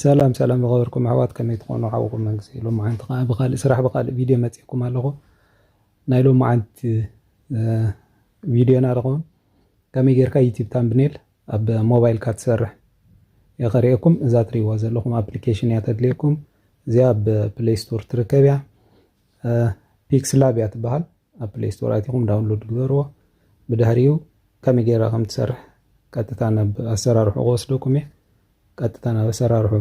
ሰላም ሰላም ዝኸበርኩም ኣሕዋት ከመይ ትኾኑ ሓውኩም መንግስቲ ሎምዓንቲ ከዓ ብካልእ ስራሕ ብካልእ ቪድዮ መፂእኩም ኣለኹ ናይ ሎምዓንቲ ቪድዮና ድኸውን ከመይ ጌርካ ዩቲብ ታምብኔል ኣብ ሞባይልካ ትሰርሕ እየ ከሪኤኩም እዛ ትሪእዋ ዘለኹም ኣፕሊኬሽን እያ ተድልየኩም እዚኣ ኣብ ፕሌይ ስቶር ትርከብ እያ ፒክስ ላብ እያ ትበሃል ኣብ ፕሌይ ስቶር ኣቲኹም ዳውንሎድ ግበርዎ ብድሕሪኡ ከመይ ጌራ ከም ትሰርሕ ቀጥታ ናብ ኣሰራርሑ ክወስደኩም እየ ቀጥታ ናብ ኣሰራርሑ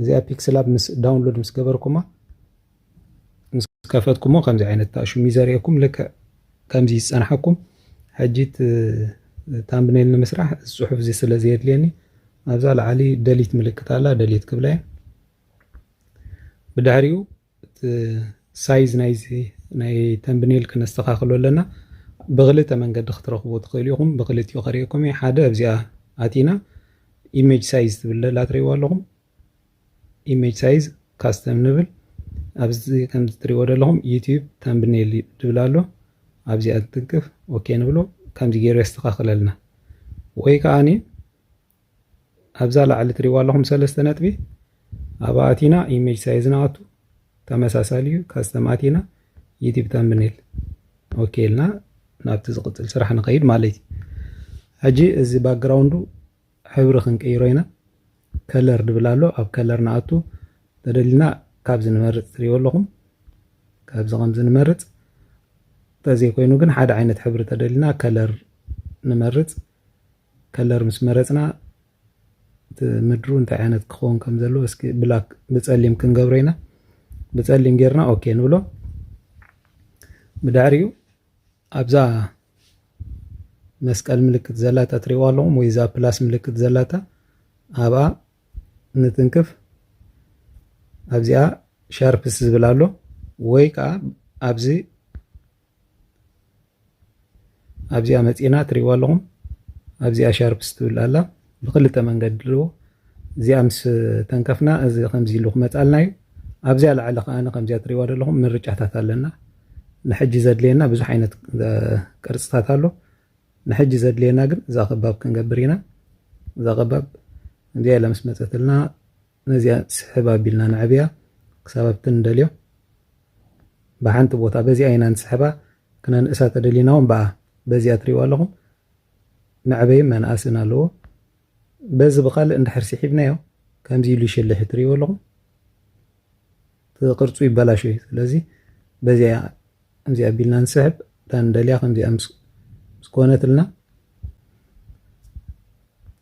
እዚኣ ፒክስል ኣብ ምስ ዳውንሎድ ምስ ገበርኩማ ምስ ከፈትኩሞ ከምዚ ዓይነት ታእሹም እዩ ዘርእየኩም ልክዕ ከምዚ ዝፀንሓኩም ሕጂ ታምብኔል ንምስራሕ እዚ ፅሑፍ እዚ ስለ ዘየድልየኒ ኣብዛ ላዓሊ ደሊት ምልክት ኣላ ደሊት ክብላ እየ ብድሕሪኡ ሳይዝ ናይዚ ናይ ተምብኔል ክነስተኻኽሎ ኣለና ብክልተ መንገዲ ክትረኽቡ ትኽእሉ ኢኹም ብክልቲኡ ከሪኤኩም እዩ ሓደ ኣብዚኣ ኣቲና ኢሜጅ ሳይዝ ትብል ዘላ ትሪእዋ ኣለኹም ኢሜጅ ሳይዝ ካስተም ንብል ኣብዚ ከምዚ ትሪእዎ ዘለኹም ዩቲዩብ ተምብኔል ትብል ኣሎ ኣብዚኣ ትትንክፍ ኦኬ ንብሎ ከምዚ ገይሩ የስተኻኽለልና ወይ ከዓኒ ኣብዛ ላዕሊ ትሪእዋ ኣለኹም ሰለስተ ነጥቢ ኣብኣ ኣቲና ኢሜጅ ሳይዝ ንኣቱ ተመሳሳሊ እዩ ካስተም ኣቲና ዩቲብ ተምብኔል ኦኬ ኢልና ናብቲ ዝቕፅል ስራሕ ንኸይድ ማለት እዩ ሕጂ እዚ ባክግራውንዱ ሕብሪ ክንቅይሮ ኢና ከለር ድብል ኣሎ ኣብ ከለር ንኣቱ ተደሊና ካብዚ ንመርፅ ትሪእዎ ኣለኹም ካብዚ ከምዚ ንመርፅ ተዘይኮይኑ ግን ሓደ ዓይነት ሕብሪ ተደሊና ከለር ንመርፅ ከለር ምስ መረጽና እቲ ምድሩ እንታይ ዓይነት ክኸውን ከም ዘለዎ እስኪ ብላክ ብጸሊም ክንገብሮ ኢና ብጸሊም ጌርና ኦኬ ንብሎ ብድሕሪኡ ኣብዛ መስቀል ምልክት ዘላታ ትሪእዋ ኣለኹም ወይ እዛ ፕላስ ምልክት ዘላታ ኣብኣ ንትንክፍ ኣብዚኣ ሻርፕስ ዝብል ኣሎ ወይ ከዓ ኣብዚ ኣብዚኣ መፂና ትሪእዋ ኣለኹም ኣብዚኣ ሻርፕስ ትብል ኣላ ብክልተ መንገዲ ኣለዎ እዚኣ ምስ ተንከፍና እዚ ከምዚ ኢሉ ክመፃልና እዩ ኣብዚያ ላዕሊ ከዓ ከምዚያ ትሪእዋ ዘለኹም ምርጫታት ኣለና ንሕጂ ዘድልየና ብዙሕ ዓይነት ቅርፅታት ኣሎ ንሕጂ ዘድልየና ግን እዛ ከባብ ክንገብር ኢና እዛ ከባብ እዚኣ ኢላ ምስ መፀትልና ነዚኣ ስሕብ ኣቢልና ነዕብያ ክሳብ ኣብቲ ንደልዮ ብሓንቲ ቦታ በዚኣ ኢና ንስሕባ ክነንእሳ ተደሊና ውን ብኣ በዚኣ ትሪእዋ ኣለኹም መዕበይን መንኣስን ኣለዎ በዚ ብካልእ እንድሕር ሲሒብናዮ ከምዚ ኢሉ ይሽልሕ ትሪእዎ ኣለኹም። እቲ ቅርጹ ይበላሾ እዩ ስለዚ በዚኣ ከምዚ ኣቢልና ንስሕብ እታ ንደልያ ከምዚኣ ምስ ኮነትልና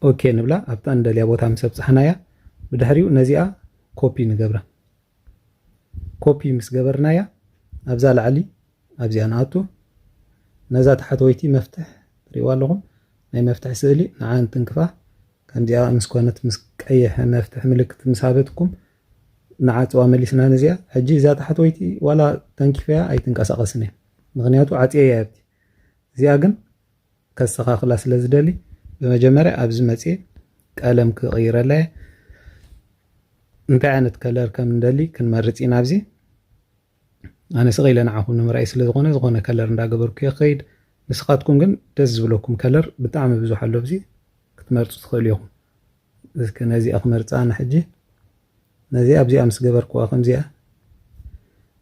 ኦኬ ንብላ ኣብታ ንደልያ ቦታ ምስ ኣብጻሕናያ ብድሕሪኡ ነዚኣ ኮፒ ንገብራ ኮፒ ምስ ገበርናያ ኣብዛ ላዕሊ ኣብዚኣ ንኣቱ ነዛ ታሕተወይቲ መፍትሕ ትሪእዋ ኣለኹም ናይ መፍትሒ ስእሊ ንዓ እንትንክፋ ከምዚኣ ምስ ኮነት ምስ ቀይሕ መፍትሒ ምልክት ምስ ሃበትኩም ንዓጽዋ መሊስና ነዚኣ ሕጂ እዛ ታሕተወይቲ ዋላ ተንኪፈያ ኣይትንቀሳቀስን እያ ምክንያቱ ዓጽየያ ኣብቲ እዚኣ ግን ከስተካክላ ስለ ዝደሊ ብመጀመርያ ኣብዚ መጽየ ቀለም ክቅይረላ እየ እንታይ ዓይነት ከለር ከም ንደሊ ክንመርጽ ኢና ኣብዚ ኣነ ስቅ ኢለ ንዓኹም ንምርኣይ ስለ ዝኾነ ዝኾነ ከለር እንዳገበርኩ እየ ክኸይድ ንስኻትኩም ግን ደስ ዝብለኩም ከለር ብጣዕሚ ብዙሕ ኣሎ ኣብዚ ክትመርጹ ትኽእሉ ኢኹም እስከ ነዚኣ ክመርጻ ኣነ ሕጂ ነዚኣ ኣብዚኣ ምስ ገበርክዋ ከምዚኣ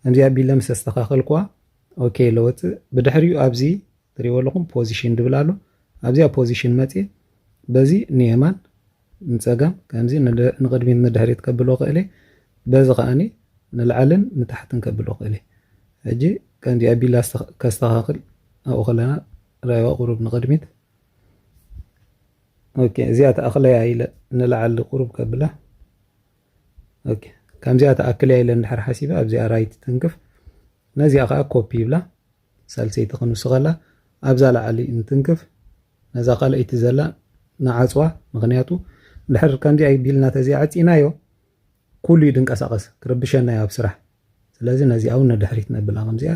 ከምዚኣ ኣቢለ ምስ ኣስተኻኸልክዋ ኦኬ ኢለ ወጽእ ብድሕሪኡ ኣብዚ ትሪእዎ ኣለኹም ፖዚሽን ድብል ኣሎ ኣብዚኣ ፖዚሽን መጽእ በዚ ንየማን ንጸጋም ከምዚ ንቕድሚት ንድሕሪት ከብሎ ክእል በዚ ከዓኒ ንላዕልን ንታሕትን ከብሎ ክእል ሕጂ ከምዚ ኣቢላ ከስተኻኽል ኣብኡ ከለና ራይዋ ቁሩብ ንቕድሚት ኦኬ እዚኣ ተኣኽለያ ኢለ ንላዓሊ ቁሩብ ከብላ ኦኬ ከምዚኣ ተኣክለያ ኢለ እንድሕር ሓሲበ ኣብዚኣ ራይት ትንክፍ ነዚኣ ከዓ ኮፒ ይብላ ሳልሰይቲ ክንውስኸላ ኣብዛ ላዓሊ እንትንክፍ ነዛ ካልኣይቲ ዘላ ንዓፅዋ ምክንያቱ እንድሕር ከምዚኣ ቢልና ተዚኣ ዓፂናዮ ኩሉ እዩ ድንቀሳቐስ ክርብሸና እዩ ኣብ ስራሕ ስለዚ ነዚኣ ውን ንድሕሪት ነብላ ከምዚኣ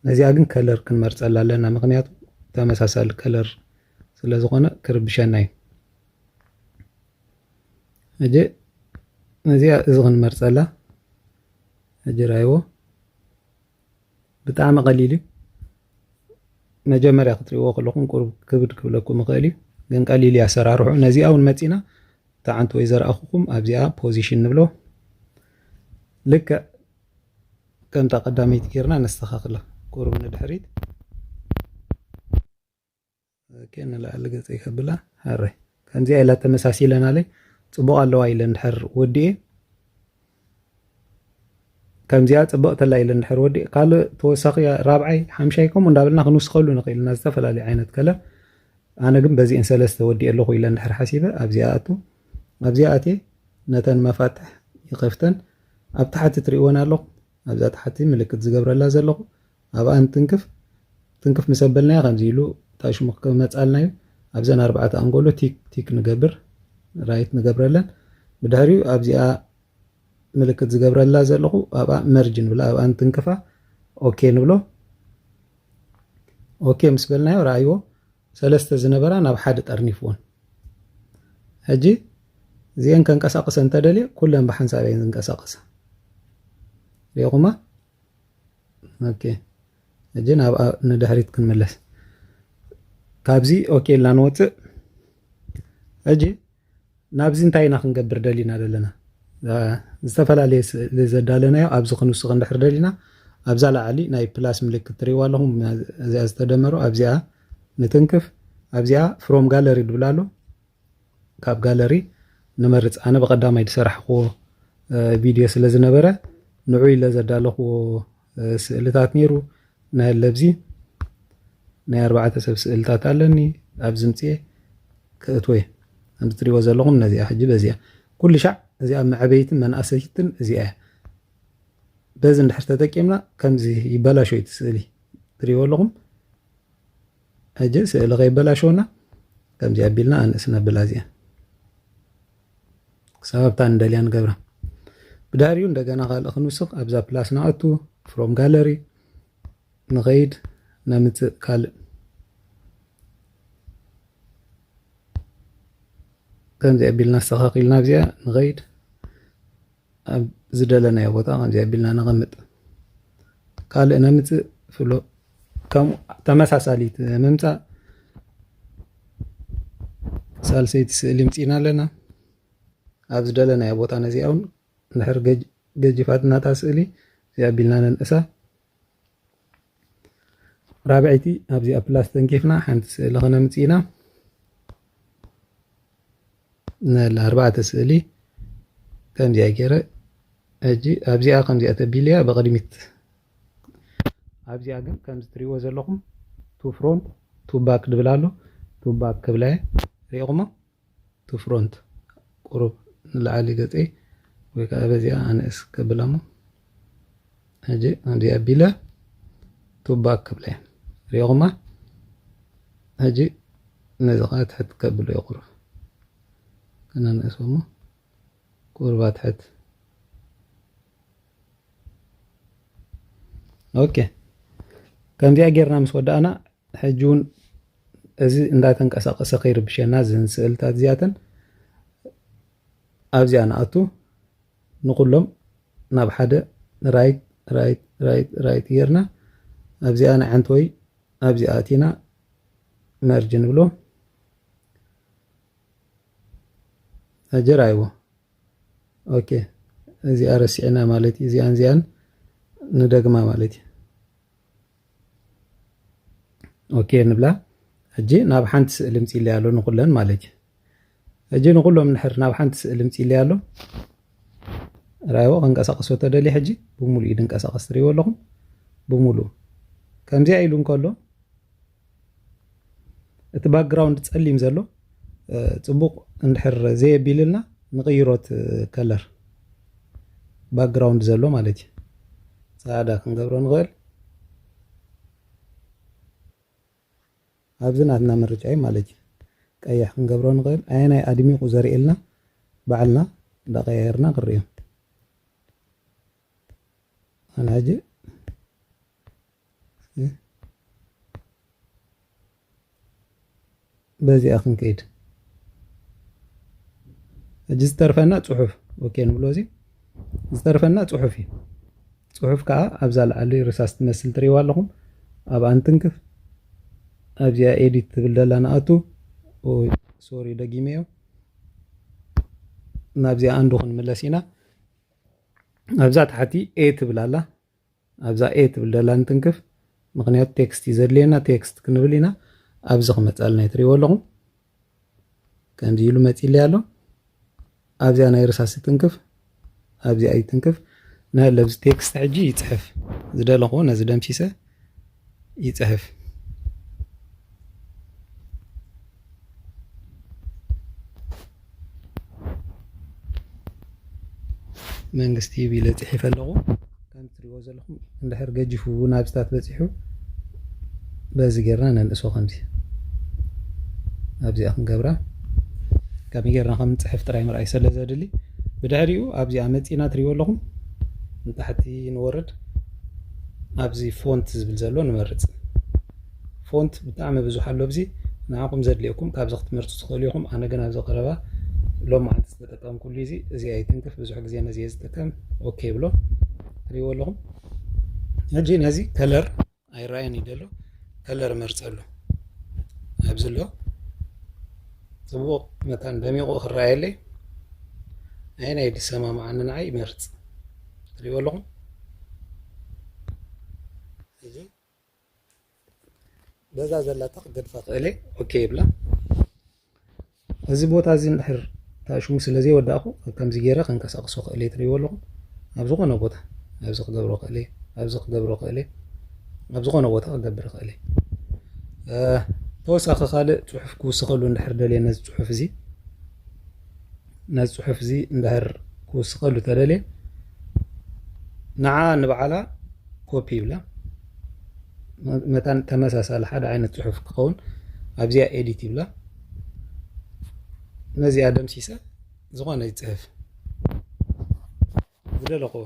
ነዚኣ ግን ከለር ክንመርጸላ ኣለና ምክንያቱ ተመሳሳሊ ከለር ስለ ዝኮነ ክርብሸና እዩ ሕጂ ነዚኣ እዚ ክንመርጸላ ሕጂ ራይዎ ብጣዕሚ ቀሊል እዩ መጀመርያ ክትሪእዎ ከለኹም ቁሩብ ክብድ ክብለኩም ይኽእል እዩ ግን ቀሊል እዩ ኣሰራርሑ ነዚኣ ውን መጺና ታዓንቲ ወይ ዘርኣኹኹም ኣብዚኣ ፖዚሽን ንብሎ ልክዕ ከምታ ቀዳመይቲ ጌርና ነስተኻኽላ ቁሩብ ንድሕሪት ኦኬ ንላዕሊ ገጸይ ከብላ ሃረ ከምዚኣ ኢላ ተመሳሲለናለይ ጽቡቕ ኣለዋ ኢለ እንድሕር ወዲኤ ከምዚኣ ጽብቕቲ ኣላ ኢለ እንድሕር ወዲእ ካልእ ተወሳኺ ራብዓይ ሓምሻይ ከምኡ እንዳበልና ክንውስኸሉ ንኽእል ኢና ዝተፈላለዩ ዓይነት ከለር ኣነ ግን በዚኤን ሰለስተ ወዲኤ ኣለኹ ኢለ እንድሕር ሓሲበ ኣብዚኣ ኣቱ ኣብዚኣ ኣትየ ነተን መፋትሕ ይኸፍተን ኣብ ታሕቲ ትሪእወን ኣለኹ ኣብዛ ታሕቲ ምልክት ዝገብረላ ዘለኹ ኣብኣ እንትንክፍ ትንክፍ ምስ ኣበልናዮ ከምዚ ኢሉ እንታይ ሽሙ ክመጻልና እዩ ኣብዘን ኣርባዕተ ኣንጎሎ ቲክ ቲክ ንገብር ራይት ንገብረለን ብድሕሪኡ ኣብዚኣ ምልክት ዝገብረላ ዘለኹ ኣብኣ መርጅ ንብላ ኣብኣ እንትንክፋ ኦኬ ንብሎ ኦኬ ምስ በልናዮ ረኣይዎ ሰለስተ ዝነበራ ናብ ሓደ ጠርኒፍዎን ሕጂ እዚአን ከንቀሳቅሰ እንተደልየ ኩለን ብሓንሳብ እየን ዝንቀሳቀሳ ሪኹማ ኦኬ ሕጂ ናብ ንድሕሪት ክንመለስ ካብዚ ኦኬ ኢልና ንወፅእ ሕጂ ናብዚ እንታይ ኢና ክንገብር ደሊና ዘለና ዝተፈላለየ ስእሊ ዘዳለናዮ ኣብዚ ክንውስኽ እንድሕር ደሊና ኣብዛ ላዓሊ ናይ ፕላስ ምልክት ትሪእዋ ኣለኹም እዚኣ ዝተደመሩ ኣብዚኣ ንትንክፍ ኣብዚኣ ፍሮም ጋለሪ ድብላ ኣሎ ካብ ጋለሪ ንመርጽ ኣነ ብቀዳማይ ዝሰራሕክዎ ቪድዮ ስለ ዝነበረ ንዑ ኢለ ዘዳለኽዎ ስእልታት ነይሩ ናይ ለብዚ ናይ ኣርባዕተ ሰብ ስእልታት ኣለኒ ኣብ ዝምፅኤ ክእትወየ ከምዚ ትሪእዎ ዘለኹም ነዚኣ ሕጂ በዚኣ ኩሉ ሻዕ እዚኣ መዕበይትን መናእሰይትን እዚኣ እያ በዚ እንድሕር ተጠቂምና ከምዚ ይበላሾ እቲ ስእሊ ትሪእዎ ኣለኹም ሕጂ ስእሊ ከይበላሸወና ከምዚ ኣቢልና ኣንእስ ነብላ እዚኣ ክሳብ ኣብታ ንደልያ ንገብራ ብዳርዩ እንደገና ካልእ ክንውስኽ ኣብዛ ፕላስ ንኣቱ ፍሮም ጋለሪ ንኸይድ ነምፅእ ካልእ ከምዚ ኣቢልና ኣስተኻኺልና ኣብዚኣ ንኸይድ ኣብ ዝደለናዮ ቦታ ከምዚ ኣቢልና ነቐምጥ ካልእ ነምፅእ ፍሎ ከምኡ ተመሳሳሊት ምምፃእ ሳልሰይቲ ስእሊ ምፅና ኣለና ኣብ ዝደለናዮ ቦታ ነዚኣ እውን ንድሕር ገጅፋትናታ ስእሊ እዚ ኣቢልና ነንእሳ ራብዐይቲ ኣብዚኣ ፕላስ ተንኪፍና ሓንቲ ስእሊ ከነምፅእ ኢና ነላ ኣርባዕተ ስእሊ ከምዚኣ ገይረ ሕጂ ኣብዚኣ ከምዚኣ ተቢልያ ብቕድሚት ኣብዚኣ ግን ከምዚ ትሪእዎ ዘለኹም ቱ ፍሮንት ቱ ባክ ድብል ኣሎ ቱ ባክ ክብላ እየ ሪኢኹሞ to front ቁሩብ ንላዕሊ ገጸይ ወይ ከኣ በዚኣ ኣንእስ ከብላ'ሞ ሕጂ ከምዚ ኣቢለ to back ክብላ'የ ርኢኹማ ሕጂ ነዚ ከኣ ትሕት ከብሎ'የ ቁሩብ ከነንእሶ'ሞ ቁሩብ ኣትሕት ኦኬ ከምዚኣ ጌርና ምስ ወዳእና ሕጂ ውን እዚ እንዳተንቀሳቀሰ ከይርብሸና እዘን ስእልታት እዚኣተን ኣብዚኣ ንኣቱ ንኩሎም ናብ ሓደ ራይት ራይት ራይት ራይት ጌርና ኣብዚኣ ንዓንቲ ወይ ኣብዚኣ ኣቲና መርጅ ንብሎ ሕጂ ራይዎ ኦኬ እዚኣ ረሲዕና ማለት እዩ እዚኣን እዚኣን ንደግማ ማለት እዩ ኦኬ ንብላ ሕጂ ናብ ሓንቲ ስእሊ ምፂለያ ኣሎ ንኩለን ማለት እዩ ሕጂ ንኩሎም ንሕር ናብ ሓንቲ ስእሊ ምፂለያ ኣሎ ራይዎ ከንቀሳቀሶ ተደልየ ሕጂ ብምሉእ እዩ ድንቀሳቀስ ትሪእዎ ኣለኹም ብምሉእ ከምዚኣ ኢሉ እንከሎ እቲ ባክግራውንድ ፀሊም ዘሎ ፅቡቅ እንድሕር ዘየቢልልና ንቅይሮ እቲ ከለር ባክግራውንድ ዘሎ ማለት እዩ ፃዕዳ ክንገብሮ ንኽእል ኣብዚ ናትና ምርጫ እዩ ማለት እዩ ቀይሕ ክንገብሮ ንኽእል ኣየናይ ኣድሚቑ ዘርእየልና ባዕልና እንዳቀያየርና ክንሪኦ Alhaji. በዚኣ ክንከይድ እጅ ዝተርፈና ፅሑፍ ኦኬ ንብሎ እዚ ዝተርፈና ፅሑፍ እዩ ፅሑፍ ከዓ ኣብዛ ላዓሊ ርሳስ ትመስል ትሪዋ ኣለኹም ኣብ ኣንትንክፍ ኣብዚኣ ኤዲት ትብል ደላ ንኣቱ ሶሪ ደጊመዮ ናብዚኣ ኣንዱ ክንምለስ ኢና ኣብዛ ታሕቲ ኤ ትብል ኣላ ኣብዛ ኤ ትብል ደላ ንትንክፍ ምክንያቱ ቴክስት እዩ ዘድልየና ቴክስት ክንብል ኢና ኣብዚ ክመፅኣልና እዩ ትሪእዎ ኣለኹም ከምዚ ኢሉ መፂለይ ኣሎ ኣብዚኣ ናይ ርሳስ ትንክፍ ኣብዚኣ ይትንክፍ ንህለብዚ ቴክስት ሕጂ ይፅሕፍ ዝደለኹዎ ነዚ ደምሲሰ ይጽሕፍ። መንግስቲ ይብ ኢለ ጽሒፈ ኣለኹ። ከም ትሪእዎ ዘለኹም እንድሕር ገጂፉ ናብዚታት በጺሑ በዚ ጌርና ነንእሶ ከምዚ ኣብዚኣ ክንገብራ ከመይ ጌርና ከም ንጽሕፍ ጥራይ ምርኣይ ስለ ዘድሊ ብድሕሪኡ ኣብዚኣ መጺእና ትሪእዎ ኣለኹም ንታሕቲ ንወርድ ኣብዚ ፎንት ዝብል ዘሎ ንመርጽ ፎንት ብጣዕሚ ብዙሕ ኣሎ ኣብዚ ንዓኹም ዘድልየኩም ካብዚ ክትመርጹ ትኽእሉ ኢኹም ኣነ ግን ኣብዚ ቀረባ ሎማዓንቲ ዝተጠቀምኩሉ እዚ እዚ ኣይትንክፍ ብዙሕ ግዜ ነዚ እየ ዝጥቀም ኦኬ ብሎ ትሪእዎ ኣለኹም ሕጂ ነዚ ከለር ኣይረኣየን እዩ ደሎ ከለር መርጸሉ ኣብዚ ኣሎ ጽቡቕ መታን ደሚቑ ክረኣየለይ ኣየናይ ድሰማምዓኒ ንዓይ ይመርጽ ትሪእዎ ኣለኹም እዚ በዛ ዘላታ ክገድፋ ክእል ኦኬ ይብላ እዚ ቦታ እዚ እንድሕር ታሽሙ ስለ ዘይወዳእኹ ከምዚ ገይረ ከንቀሳቕሶ ክእል ትሪእዎ ኣለኹም ኣብ ዝኾነ ቦታ ኣብዚ ክገብሮ ክእል ኣብዚ ክገብሮ ክእል ኣብ ዝኾነ ቦታ ክገብር ክእል ተወሳኺ ካልእ ፅሑፍ ክውስኸሉ እንድሕር ደልየ ነዚ ፅሑፍ እዚ ነዚ ጽሑፍ እዚ እንድሕር ክውስኸሉ ተደልየ ንዓ ንበዓላ ኮፒ ይብላ መታን ተመሳሳሊ ሓደ ዓይነት ጽሑፍ ክኸውን ኣብዚኣ ኤዲት ይብላ ነዚኣ ደምሲሰ ዝኾነ ይፅሕፍ ዝደለኹዎ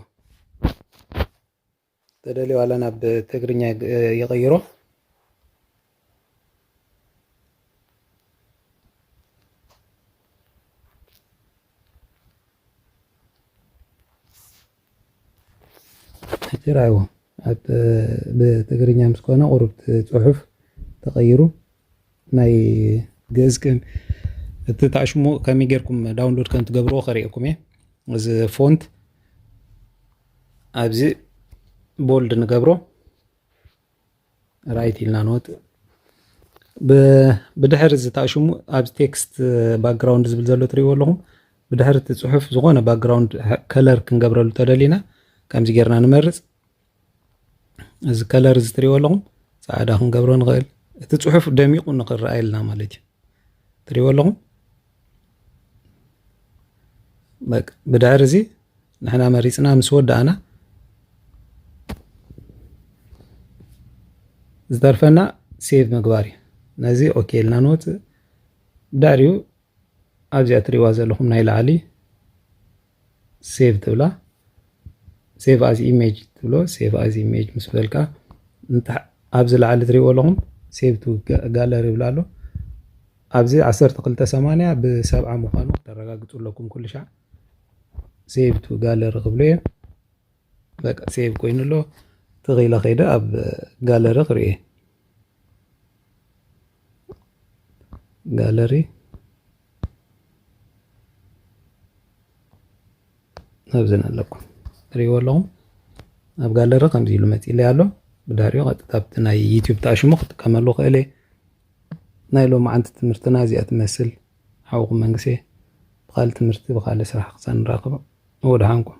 ተደልዩ ዋላ ናብ ትግርኛ ይቕይሮ ሕጂ ራእይዎ ኣብ ብትግርኛ ምስ ኮነ ቁሩብ ጽሑፍ ተቐይሩ ናይ ግእዝ ግን እቲ ታሽሙ ከመይ ጌርኩም ዳውንሎድ ከም ትገብርዎ ከርእየኩም እየ እዚ ፎንት ኣብዚ ቦልድ ንገብሮ ራይት ኢልና ንወጥ ብድሕር እዚ ታሽሙ ኣብዚ ቴክስት ባክግራውንድ ዝብል ዘሎ ትሪእዎ ኣለኹም ብድሕር እቲ ፅሑፍ ዝኾነ ባክግራውንድ ከለር ክንገብረሉ ተደሊና ከምዚ ጌርና ንመርፅ እዚ ከለር እዚ ትሪእዎ ኣለኹም ፃዕዳ ክንገብሮ ንኽእል እቲ ፅሑፍ ደሚቑ ንኽረኣየልና ማለት እዩ ትሪእዎ ኣለኹም ብድሕሪ እዚ ንሕና መሪፅና ምስ ወዳእና ዝተርፈና ሴቭ ምግባር እዩ ነዚ ኦኬ ኢልና ንወፅእ ብድሕሪኡ ኣብዚኣ ትሪእዋ ዘለኹም ናይ ላዕሊ ሴቭ ትብላ ሴቭ ኣዝ ኢሜጅ ትብሎ ሴቭ ኣዝ ኢሜጅ ምስ በልካ ኣብዚ ላዕሊ ትሪእዎ ኣለኹም ሴቭ ቱ ጋለሪ ይብላ ኣሎ ኣብዚ 1280 ብሰብዓ ምዃኑ ክተረጋግፁ ኣለኩም ኩሉ ሻዕ ሴቭ ቱ ጋለሪ ክብሉ እዮም በቃ ሴቭ ኮይኑ ኣሎ ተኺኢለ ከይደ ኣብ ጋለሪ ክርኢ ጋለሪ ኣብዘን ኣለኩ ሪእዎ ኣለኹም ኣብ ጋለሪ ከምዚ ኢሉ መፂለይ ኣሎ ብዳሪዮ ቀጥታ ኣብቲ ናይ ዩትብ ተኣሽሙ ክጥቀመሉ ክእል እየ ናይ ሎሚ ዓንቲ ትምህርትና እዚኣ ትመስል ሓውኹም መንግሴ ብካልእ ትምህርቲ ብካልእ ስራሕ ክሳብ ንራኸብ ወድሓንኩም